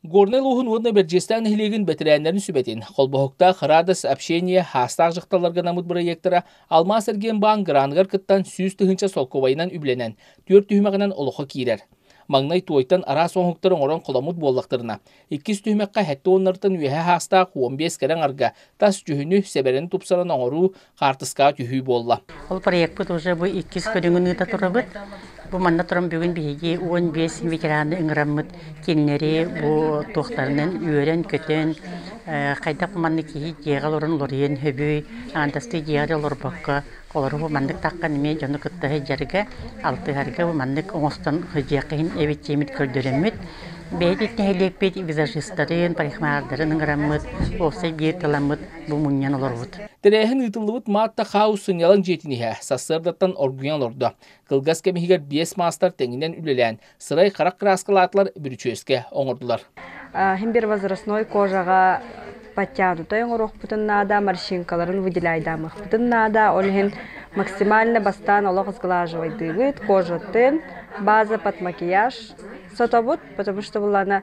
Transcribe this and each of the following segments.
Горнай улууһун уонна Бэрдьиэстээх нэһилиэгин бэтэрээннэрин сүбэтин, Холбоһуктаах Радость общение саастаах дьахталларга наммыт бырайыактара Алмаас-Эргиэн-Баан граныгар кыттан сүүс тыһыынча солкуобайынан үбүлэнэн, түөрт түһүмэҕинэн олоххо киирэр. Маҥнай туойтан араас оҥоһуктары оҥорон холаммыт буоллахтарына, иккис түһүмэххэ сэттэ уоннартан үөһэ саастаах уон биэс кэрэ аҥарга тас дьүһүнү, сэбэрэни тупсаран оҥоруу, хаартыскаҕа түһүү буолла. Ол проекпыт уже бу иккис көрүҥүн ыыта турабыт. Бу манна туран бүгүн биһиги он биэс ветераны ыҥыраммыт кинилэри бу туохтарынан үөрэн-көтөн, хайдах маннык киһи дьиэҕэ олорон уларуйан сөбүй, андастыы дьиэҕэ олорбокко олору бу маннык таххан эмиэ дьону кытта сылдьарга, алтыһарга бу маннык оҥостон сылдьыахха иһин эбит диэммит көрдөрөммүт. Бэйэтин нэһилиэкпит визажистарын, парикмахардарын ыҥыраммыт, уопсай биир тыламмыт бу мунньан олорбут. Тэрээһин ыытыллыбыт Маатта Хаус сынньалаҥ дьиэтин иһэ сарсыардаттан оргуйан олордо. Кылгас кэм иһигэр биэс маастар тэҥинэн үлэлээн, сырай харах кырааскалаатылар бүрүчүөскэ оҥордулар. Хим бир возрастной кожаҕа подтянутай оҥоруохпутун наада, морщинкаларын выделяйдаамыахпытын наада. Ол иһин максимально бастаан олох сглаживайдыыбыт, кожа тын, база под макияж сотобут, потому что была она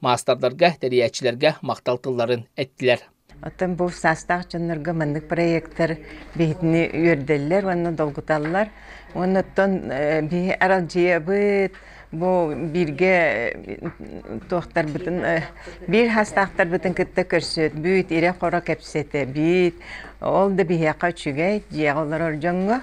маастардарга, тэрийээччилэргэ махтал тылларын эттилэр. Оттон бу саастаах дьоннорго маннык проектор биһитини үөрдэллэр уонна долгуталлар. Оннуттан биһи аралдьыйабыт, бу бииргэ туохтарбытын биир хастаахтарбытын кытта көрсөт бүт ирэ хоро кэпсэтэ бүт ол да биһиэхэ үчүгэй дьиэҕэ олорор дьоҥҥо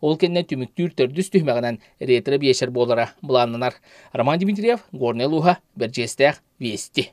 Ол кэннэ түмүктүүр төрдүс түһүмэҕинэн ретро-биэчэр буолара былааннанар. Роман Дмитриев, Горнай улууһа, Бэрдьиэстээх, Вести.